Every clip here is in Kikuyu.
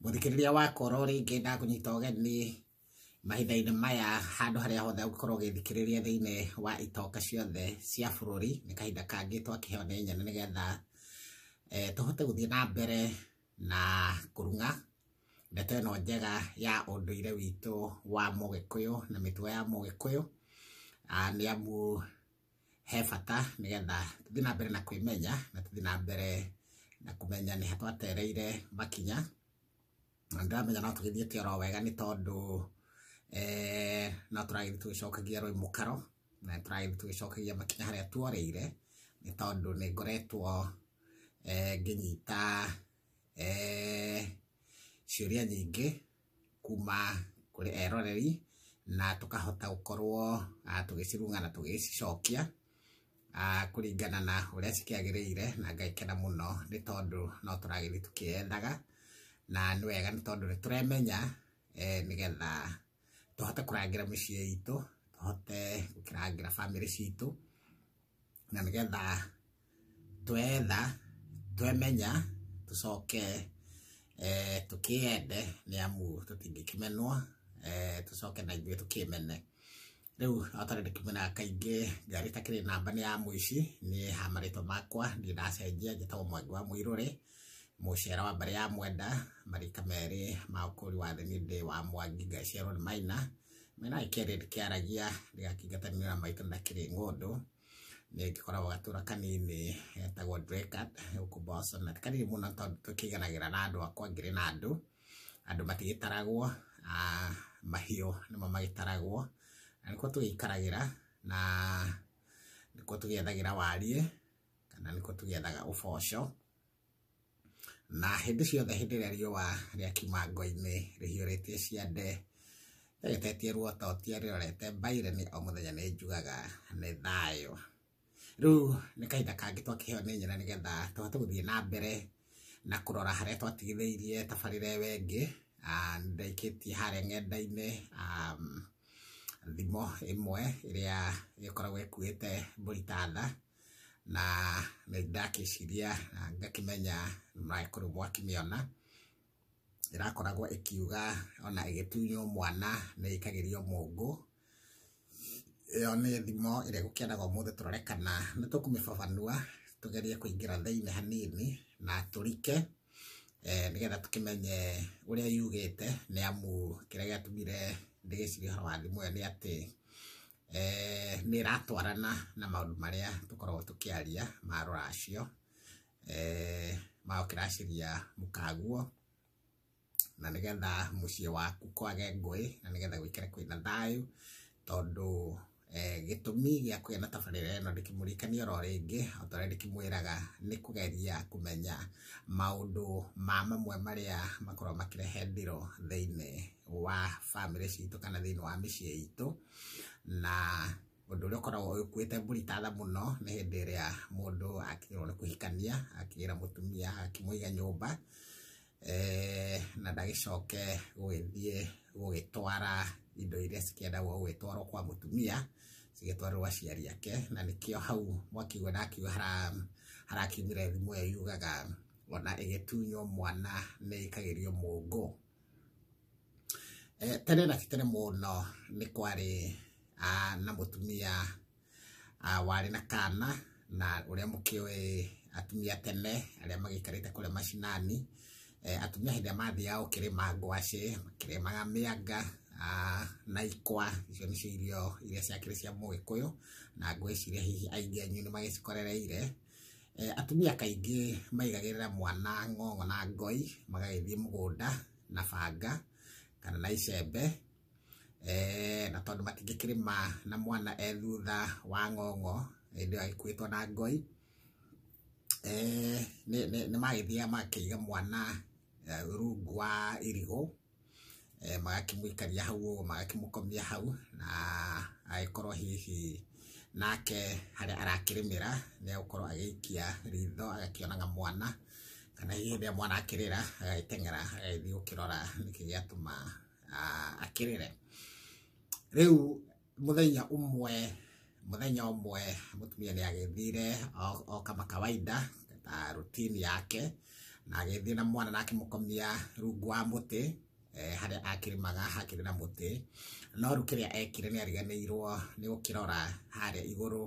mũthikĩrĩria wa koro rĩngĩ ndakũnyita ũgeni mahinda-inĩ maya handũ harĩa hothe ũngĩkorwo ũgĩthikĩrĩria thĩinĩ wa itonga ciothe cia bũrũri nĩ kahinda kangĩ twakĩheo nĩ nyene nĩgetha eh, tũhote gũthiĩ na mbere na kũrung'a ndeto ĩno njega ya ũndũire witũ wa mũgĩkũyũ na mĩtugo ya mũgĩkũyũ Ah, nĩ amu he bata nĩgetha tũthiĩ na mbere na kwĩmenya na tũthiĩ na mbere na kũmenya nĩ ha twatereire makinya na ndĩramenya no tũgĩthiĩte oro wega nĩ tondũ eh, no tũragĩthiĩ tũgĩcokagia rwĩ mũkaro na tũragĩthiĩ tũgĩcokagia makinya harĩa tuoreire nĩ tondũ nĩ ngoretwo eh, ngĩnyita eh, ciũria nyingĩ kuma kũrĩ eroreri na tũkahota gũkorwo ah, tũgĩcirunga na tũgĩcicokia ah, kũringana na ũrĩa cikĩagĩrĩire na ngaikena mũno nĩ tondũ no tũragĩthiĩ tũkĩethaga na nĩ wega nĩ tondũ nĩ tũremenya eh, nĩgetha tũhote kũrangĩra mĩciĩ itũ tũhote gũkĩrangĩra bamĩrĩ citũ na nĩgetha twetha twemenya tũcoke eh, tũkĩyende nĩ amu tũtingĩkĩmenwo eh, tũcoke na ithuĩ tũkĩmene rĩu atarĩ ndĩkĩmenaga kaingĩ ngari takĩrĩ namba nĩ ya mũici niĩ ha marĩtwa makwa niĩ ndacenjia njĩtagwo mwangi wa mũirũrĩ mũcera wa mbarĩ ya mwenda marika merĩ ma ũkũri wa thĩ nĩ ndĩ wa mwangi ngaciarwo nĩ maina Mena kĩrĩ kĩaragia rĩa kĩngatanĩra maitũ na kĩrĩ ng'ũndũ nĩ gĩkoragwo gatũra kanini getagwo Drekat gũkũ Botswana kanini mũno tondũ tũkĩganagĩra na andũ akwa ngĩrĩ na andũ andũ matigĩtaragwo ah, mahiũ nĩmo magĩtaragwo na nĩkuo tũgĩikaragĩra na nĩkuo tũgĩethagĩra wariĩ kana nĩkuo tũgĩethaga ũboco na hĩndĩ ciothe hĩndĩ ĩrĩa riũa rĩakiuma ngo-inĩ rĩhiũrĩtie ciande rĩgetetie ruota ũtia rĩrorete mbaireni o mũthenya nĩ njugaga nĩ thayũ rĩu nĩ kahinda kangĩ twakĩheo nĩ nyina nĩgetha tũhote gũthiĩ na mbere na kũrora harĩa twatigithĩirie tabarĩra ĩyo ĩngĩ Ah, nĩ ndaikĩtie harĩa ng'enda-inĩ um, thimo ĩmwe ĩrĩa ĩkoragwo ĩkuĩte mbũri ta tha na nĩ ndakĩciria na ngakĩmenya mangĩkorwo mwakĩmĩona ĩrakoragwo ĩkiuga ona ĩgĩtunywo mwana nĩ ĩkagĩrio mũngũ ĩyo nĩ thimo ĩrĩa gũkĩendaga ũmũthĩ tũrore kana nĩ tũkũmĩbabanua tũgerie kũingĩra thĩinĩ hanini na tũrike eh, nĩgetha tũkĩmenye ũrĩa yugĩte nĩ amu kĩrĩa gĩatũmire ndĩgĩcirie ũhoro wa thimo ĩyo nĩ atĩ eh, nĩ ĩratwarana na maũndũ marĩa tũkoragwo tũkĩaria ma rũracio eh, ma ũkĩracĩria mũkaguo na nĩgetha mũciĩ waku kwage ngũĩ na nĩgetha gwĩkĩre kwĩna thayũ tondũ eh, gĩtũmi gĩa kũgĩa na tabarĩra ĩno ndĩkĩmũrĩkania oro rĩngĩ o ta ũrĩa ndĩkĩmwĩraga nĩ kũgeria kũmenya maũndũ ma mamwe marĩa makoragwo makĩrehe ndiro thĩinĩ wa bamĩrĩ citũ kana thĩinĩ wa mĩciĩ itũ na ũndũ ũrĩa ũkoragwo ũkuĩte mbũri tatha mũno nĩ hĩndĩ ĩrĩa mũndũ akĩrwo nĩ kũhikania akĩgĩra mũtumia akĩmũiga nyũmba eh, na ndagĩcoke gũgĩthiĩ gũgĩtwara indo iria cikĩendagwo gũgĩtwarwo kwa mũtumia cigĩtwarĩrwo aciari ake na nĩkĩo hau mwakiuga ndakiuga harakiumire thimũ ĩyo yugaga ona ĩgĩtunywo mwana nĩ ĩkagĩrio mũngũ Eh, tene na tene mũno nĩ kwarĩ ah, na mũtumia ah, warĩ na kana na ũrĩa mũkĩũĩ atumia tene arĩa magĩikarĩte kũrĩa macinani eh, atumia hĩndĩ ĩrĩa mathiaga gũkĩrĩma ngwacĩ makĩrĩmaga mĩanga ah, na ikwa icio nĩcio irio iria ciakĩrĩ cia mũgĩkũyũ na ngwĩciria hihi aingĩ anyu nĩ magĩcikorereire Eh, atumia kaingĩ maigagĩrĩra mwana ng'ong'o na ngoi magagĩthiĩ mũgũnda na banga kana na icembe eh, na tondũ matingĩkĩrĩma na mwana e thutha wa ng'ong'o hĩndĩ ĩyo agĩkuĩtwo na ngoi eh, nĩ- nĩ nĩ magĩthiaga makĩiga mwana eh, rungu wa irigũ eh, magakĩmũikaria hau ũguo magakĩmũkomia hau na agĩkorwo hihi nake harĩa arakĩrĩmĩra nĩ agũkorwo agĩikia ritho agakĩonaga mwana kana hihi rĩrĩa mwana akĩrĩra agagĩteng'era agagĩthiĩ gũkĩrora nĩkĩ gĩatũma ah, akĩrĩre rĩu mũthenya ũmwe mũthenya ũmwe mũtumia nĩ agĩthire o- o kama kawaida ta rutini yake na agĩthiĩ na mwana na akĩmũkomia rungu wa mũtĩ eh, harĩa akĩrĩmaga hakĩrĩ na mũtĩ no rĩu kĩrĩa ekire nĩ ariganĩirwo nĩ gũkĩrora harĩa igũrũ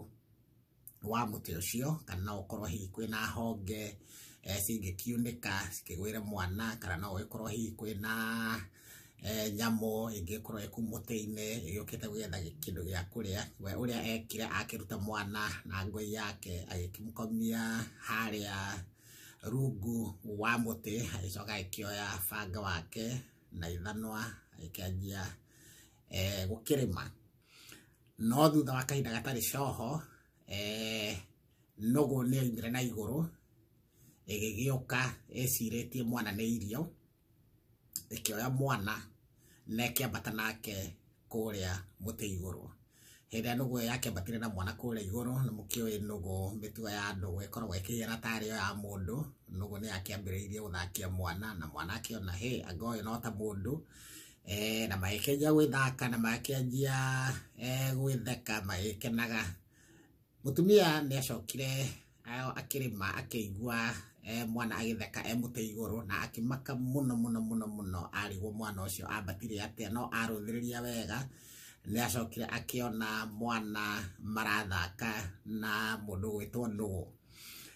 wa mũtĩ ũcio kana no ũkorwo hihi kwĩna honge eh, cingĩkiunĩka cikĩgwĩre mwana kana no ĩkorwo hihi kwĩna eh, nyamũ ĩngĩkorwo ĩku mũtĩ-inĩ ĩgĩũkĩte gwetha gĩ- kĩndũ gĩa kũrĩa we ũrĩa ekire akĩruta mwana na ngũi yake agĩkĩmũkomia harĩa rungu wa mũtĩ agĩcoka agĩkĩoya banga wake na ithanwa agĩkĩanjia eh, gũkĩrĩma no thutha wa kahinda gatarĩ coho eh, nũgũ nĩ yoimire na igũrũ ĩgĩgĩũka ĩcirĩtie mwana nĩ irio ĩkĩoya mwana na ĩkĩambata nake kũrĩa mũtĩ igũrũ hĩndĩ ĩrĩa nũgũ ĩyo yakĩambatire na mwana kũrĩa igũrũ nĩ mũkĩũĩ nũgũ mĩtugo ya nũgũ ĩkoragwo ĩkĩgera tarĩ yo ya mũndũ nũgũ nĩ yakĩambĩrĩirie gũthakia mwana na mwana akĩona hĩ anga ũyũ no ta mũndũ eh, na magĩkĩanjia gwĩthaka na magĩkĩanjia eh, gwĩtheka magĩkenaga mũtumia nĩ acokire eh, akĩrĩma akĩigua eh, mwana agĩtheka e mũtĩ igũrũ na akĩmaka mũno mũno mũno mũno arigwo mwana ũcio ambatire atĩa no arũthĩrĩria wega nĩ acokire akĩona mwana marathaka na mũndũ gwĩtwo nũũ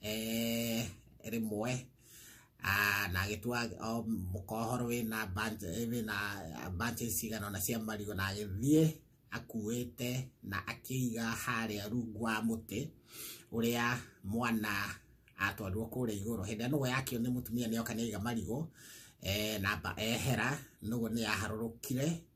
eh, rĩmwe Ah, na agĩtua o mũkohoro wĩna bunch- eh, wĩna bunches cigana ona cia marigũ na agĩthiĩ akuĩte na akĩiga harĩa rungu wa mũtĩ ũrĩa mwana atwarirwo kũrĩa igũrũ hĩndĩ ĩrĩa nũgũ yakĩo nĩ mũtumia nĩoka nĩaiga marigũ eh, na mba- ehera nũgũ nĩyaharũrũkire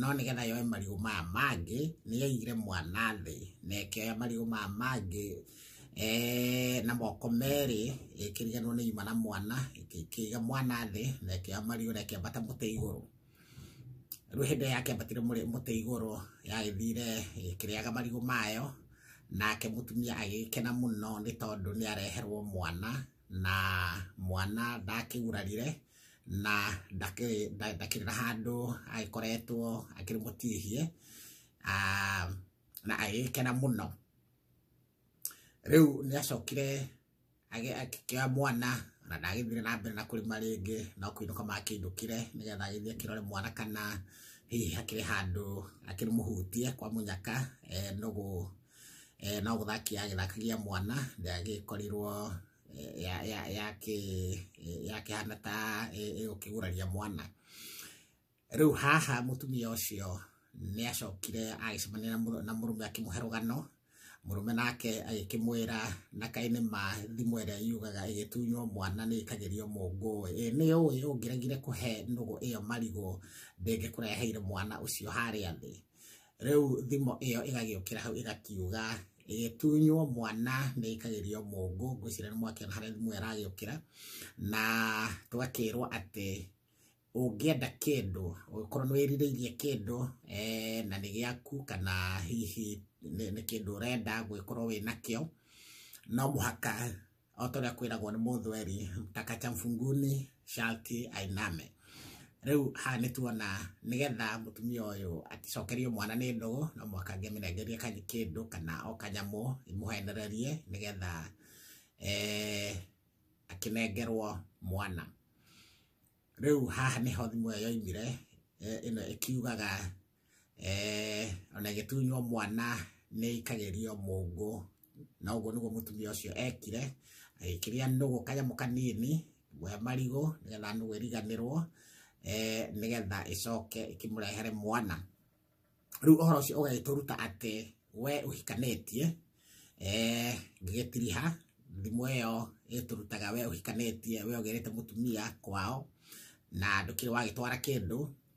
no nĩgetha yoe marigũ maya mangĩ nĩ yaigire mwana thĩ na ĩkĩoya marigũ maya mangĩ eh, na moko merĩ ĩkĩriganwo nĩ ima na mwana ĩkĩiga mwana thĩ na ĩkĩoya marigũ na ĩkĩambata mũtĩ igũrũ rĩu hĩndĩ ĩrĩa yakĩambatire mũrĩ- mũtĩ igũrũ yagĩthire ĩkĩrĩaga marigũ mayo nake mũtumia agĩkena mũno nĩ tondũ nĩ areherwo mwana na mwana ndakĩgurarire na ndakĩrĩra handũ agĩkoretwo akĩrĩ mũtihie na agĩkena mũno rĩu nĩ acokire akĩoya mwana na ndagĩthire na mbere na kũrĩma rĩngĩ no kũinũka makĩinũkire nĩgetha agĩthiĩ akĩrore mwana kana hihi hakĩrĩ handũ akĩrĩ mũhutie kwa mũnyaka nũgũ eh, no gũthaki yagĩthakagia mwana ndĩagĩkorirwo yakĩhana ta ĩgũkĩguraria mwana rĩu haha mũtumia ũcio nĩ acokire agĩcemania na mũrũme akĩmũhe rũgano mũrũme nake agĩkĩmwĩra na kaĩ nĩ ma thimũ ĩrĩa yugaga ĩgĩtunywo mwana nĩ ĩkagĩrio mũngũ ĩ nĩ ũĩ ũngĩregire kũhe nũgũ ĩyo marigũ ndĩngĩkũreheire mwana ũcio harĩa thĩ rĩu thimo ĩyo ĩgagĩũkĩra hau ĩgakiuga ĩgĩtunywo mwana nĩ ĩkagĩrio mũngũ ngwĩciria nĩ mwakĩona harĩa thimo ĩragĩũkĩra na tũgakĩrwo atĩ ũngĩenda kĩndũ ũgĩkorwo nĩ wĩrirĩirie kĩndũ eh, na nĩ gĩaku kana hihi nĩ nĩ kĩndũ ũrenda gwĩkorwo wĩ nakĩo no mũhaka o ta ũrĩa kwĩragwo nĩ mũthweri takacha mfunguni sharti ainame rĩu haha nĩ tuona nĩgetha mũtumia ũyũ aticokerio mwana nĩ ndũgũ no mũhaka ngĩmĩnengerie kanyi- kĩndũ kana o kanyamũ imũhenererie nĩgetha eh, akĩnengerwo mwana rĩu haha nĩho thimũ ĩyo yoimire eh, ĩno ĩkiugaga eh, ona ĩgĩtunywo mwana nĩ ikagĩrio mũngũ na ũguo nĩguo mũtumia ũcio ekire agĩkĩrĩa nũgũ kanyamũ kanini we marigũ nĩgetha nũgũ ĩriganĩrwo eh, nĩgetha ĩcoke ĩkĩmũrehere mwana rĩu ũhoro ũcio ũgagĩtũruta atĩ we ũhikanĩtie eh, ngĩgĩtiriha thimũ ĩyo ĩtũrutaga we ũhikanĩtie we ũgĩrĩte mũtumia kwao na ndũkĩrĩ wagĩtwara kĩndũ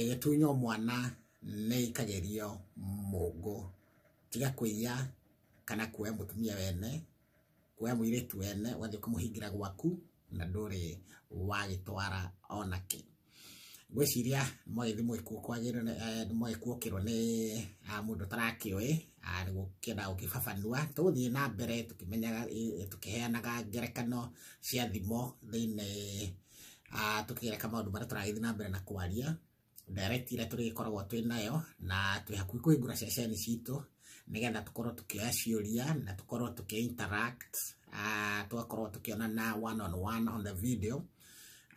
ĩgĩtunywo mwana nĩ ĩkagerio mũngũ tiga kũiya kana kuoya mũtumia wene, kuoya mũirĩtu wene ũgathiĩ kũmũhingĩra gwaku na ndũrĩ wagĩtwara ona kĩ. Ngwĩciria mwagĩthiĩ mũgĩkuokĩrwo nĩ mũndũ ũtarakĩũĩ nĩ gũkĩenda gũkĩbabanua. Tũgũthiĩ na mbere tũkĩmenyaga tũkĩheanaga ngerekano cia thimo thĩinĩ Ah, tũkĩgereka maũndũ marĩa tũragĩthiĩ na mbere na kwaria direct iria tũrĩgĩkoragwo twĩ nayo na twĩ hakuhĩ kũhingũra ceceni citũ nĩgetha tũkorwo tũkĩoya ciũria na tũkorwo tũkĩ interact ah, tũgakorwo tũkĩonana one on one on the video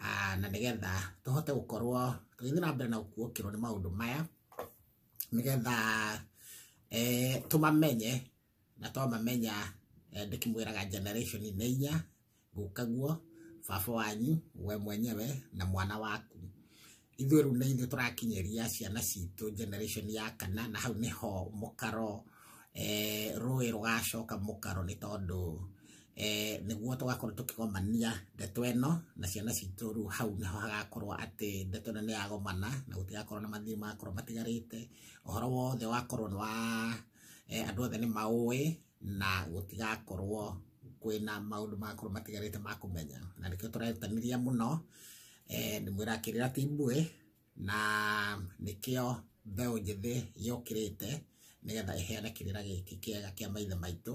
Ah, na nĩgetha tũhote gũkorwo tũgĩthiĩ na mbere na gũkuokĩrwo nĩ maũndũ maya nĩgetha eh, tũmamenye na twamamenya eh, ndĩkĩmwĩraga generation nĩ inya gũkaguo baba wanyu we mwenyewe na mwana waku ithuĩ rĩu nĩ ithuĩ tũrakinyĩria ciana citũ generation ya kana na hau nĩho mũkaro eh, rũĩ rũgacoka mũkaro nĩ tondũ eh, nĩguo tũgakorwo tũkĩgomania ndeto ĩno na ciana citũ rĩu hau nĩho hagakorwo atĩ ndeto ĩno nĩ yagomana na gũtigakorwo na mathĩna makorwo matigarĩte ũhoro wothe wakorwo nĩ wa eh, andũ othe nĩ maũĩ na gũtigakorwo kwĩna maũndũ magakorwo matigarĩte ma kũmenya na nĩkĩo tũrerutanĩria mũno eh, nĩ mwĩra kĩrĩra ti mbuĩ na nĩkĩo mbeũ njĩthĩ yũkĩrĩte nĩgetha ĩheane kĩrĩra gĩkĩ kĩega kĩa maithe maitũ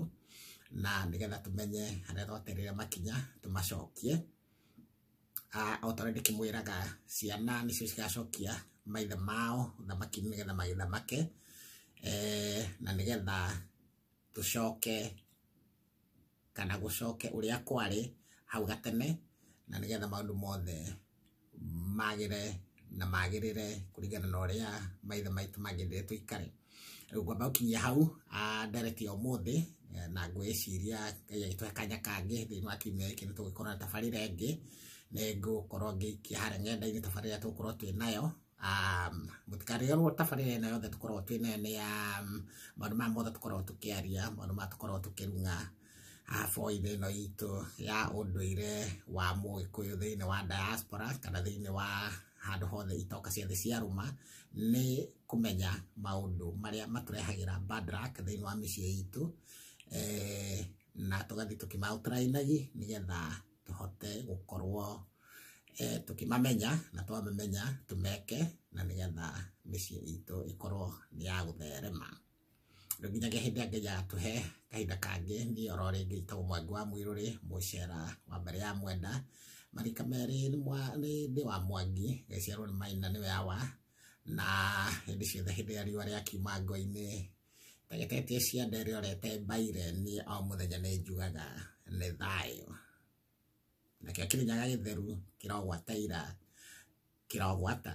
na nĩgetha tũmenye harĩa twaterire makinya tũmacokie Ah, o ta ũrĩa ndĩkĩmwĩraga ciana nĩcio cigacokia maithe mao ũthamaki nĩgetha magĩthamake eh, na nĩgetha tũcoke kana gũcoke ũrĩa kwarĩ hau gatene na nĩgetha maũndũ mothe magĩre na magĩrĩre kũringana na ũrĩa maithe maitũ magĩrĩre tũikare ngwamba gũkinyia hau ndereti ya ũmũthĩ na ngwĩciria ngai agĩtũhe kanya kangĩ thĩinĩ wa kiumia gĩkĩ nĩ tũgũkorwo na tabarĩra ĩngĩ nĩ ngũkorwo ngĩikia harĩa ng'enda-inĩ tabarĩra tũgũkorwo twĩ nayo mũtikarĩrwo tabarĩra ĩno yothe tũkoragwo twĩ nayo nĩ ya maũndũ maya mothe tũkoragwo tũkĩaria maũndũ maya tũkoragwo tũkĩrung'a boithe ĩno itũ ya ũndũire wa mũgĩkũyũ thĩinĩ wa diaspora kana thĩinĩ wa handũ hothe itoka cia thĩ cia rũma nĩ kũmenya maũndũ marĩa matũrehagĩra bad luck thĩinĩ wa mĩciĩ itũ eh, na tũgathiĩ tũkĩmaũtarainagi nĩgetha tũhote gũkorwo eh, tũkĩmamenya na twamamenya tũmeke na nĩgetha mĩciĩ itũ ĩkorwo nĩ ya gũtherema rĩu nginyagia hĩndĩ ĩrĩa ngai atũhe kahinda kangĩ niĩ oro rĩngĩ njĩtagwo mwangi wa mwĩrũrĩ mũcera wa mbere ya mwenda marika merĩ nĩ mwa- nĩ ndĩ wa mwangi gaciarwo nĩ maina nĩwe awa na hĩndĩ ciothe hĩndĩ ĩrĩa riũa rĩakiuma ngo-inĩ tegetetie cianda ĩrĩa orete mbaire niĩ o mũthenya nĩ njugaga nĩ thayũ nakĩo kĩrinyaga gĩtheru kĩrogwataira kĩrogwata